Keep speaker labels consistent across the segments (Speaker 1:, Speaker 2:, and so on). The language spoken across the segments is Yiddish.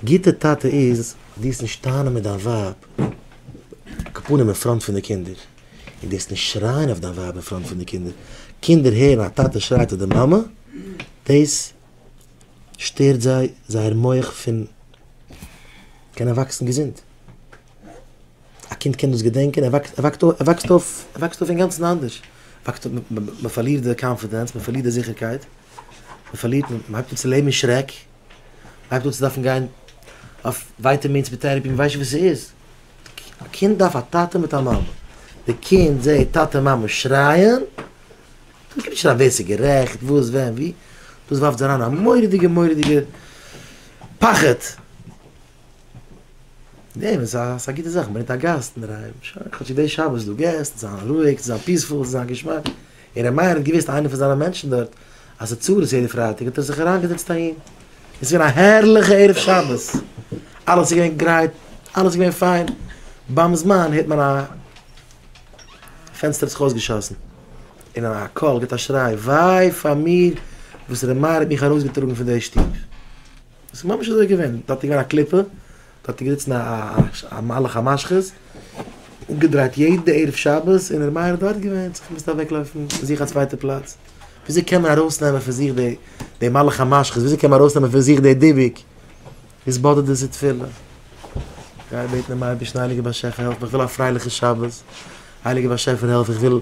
Speaker 1: גוטע טאטע איז דאס נישט טענה'ן מיט דיין ווייב כפנים אין פראנט פון די קינדער, און דאס נישט שרייען אויף דיין ווייב אין פראנט פון די קינדער, קינדער הערן א טאטע שרייט אויף די מאמע, דאס שטערט זיי זייער מח פון קענען וואקסן געזונט, א קינד קען דאס געדענקען, ער וואקסט אויף, ער וואקסט אויף אינגאנצן אנדערש, מען פארלירט די קאנפידענס, מען פארלירט די זיכערקייט, מען פארלירט, מען הייבט אן צו לעבן אין שרעק. הייב אן צו דארפן גיין אויף ווייטעמינס מיט טערעפי, מ'ווייסט נישט וואס ס'איז. א קינד דארף א טאטע מיט א מאמע. די קינד זעט טאטע און מאמע שרייען, מ'קען נישט שרייען ווער ס'איז גערעכט, וואס, ווען, ווי, דאס ווארפט אריין א מורא'דיגע מורא'דיגע פחד. ניין, עס איז א גוטע זאך, מ'ברענגט א גאסט אינדערהיים, שוין, כאטש איז דאס שבת, דו געסט, זיי זענען רואיג, זיי זענען פיספול, זיי זענען געשמאק. און ר' מאיר האט געוויסט איינער פון זיינע מענטשן דארט אז ס'איז צרות יעדע פרייטאג האט ער זיך אריינגעזעצט אהין און ס'איז געווען א הערליכע ערב שבת אלעס איז געווען גרייט אלעס איז געווען פיין ביים זמן הערט מען א פענסטער האט זיך אויסגעשאסן און א קול גיבט א שריי וויי פאר מיר וואס ר' מאיר האט מיך ארויסגעטראגן פון די שטוב עס איז ממש אזוי געווען, דארט איז געווען א קליפה, דארט איז געזיצן א מלאך המשחית, אפגעדרייט יעדע ערב שבת, און ר' מאיר האט דארט געווען, האט זיך געמוזט אוועקלויפן, זיך א צווייטע פלאץ, וויאזוי קען מען ארויסנעמען פון זיך די מלאך המשחית, וויאזוי קען מען ארויסנעמען פון זיך די דיבוק, עס באדערט דאס איז תפילה, גיי בעטן דעם אייבערשטן, הייליגער באשעפער העלף מיר, איך וויל א פרייליכע שבת, הייליגער באשעפער העלף, איך וויל,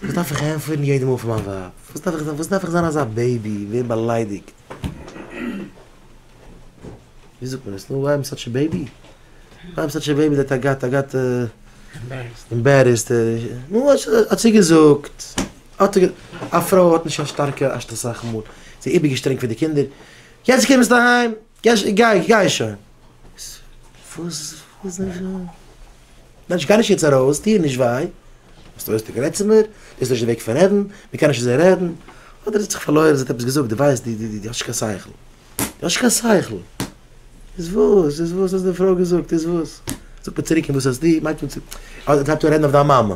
Speaker 1: וואס דארף איך ענטפערן יעדע מאל פאר מיין ווייב, וואס דארף איך זיין אזא בעיבי, ווערן באליידיגט. ווי זאגט מען עס נאר וויי עם סאטש א בעיבי? וויי עם סאטש א בעיבי דעט איי גאט איי גאט עמבערעסט נו האט זי געזאגט א פרוי האט נישט קיין שטארקע אשת אסאך מאל זי איז איבערגעשטרענגט פאר די קינדער יעצט קומסטו אהיים גיי גיי שוין וואס וואס מענטש גיי נישט יעצט ארויס, טו איר נישט וויי, ביסט אויס די גרייט צו מיר, דאס איז נישט די וועג פון רעדן, מען קען נישט אזוי רעדן, אדער זי האט זיך פארלוירן, זי האט עפעס געזאגט, דו ווייסט, דו דו דו האסט נישט קיין שכל, דו האסט נישט קיין שכל, איז וואס, איז וואס, האט די פרוי געזאגט, איז וואס, זאגט מען צוריק, און וואס האסטו, מיינט מען צו, אדער טרייבט אן רעדן אויף דיין מאמע,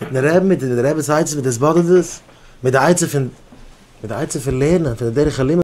Speaker 1: מיטן רעבן מיט די רעבעס עצה מיט די סבאדעדעס מיט די עצה פון מיט די עצה פון לערנען פון די דרך הלימוד.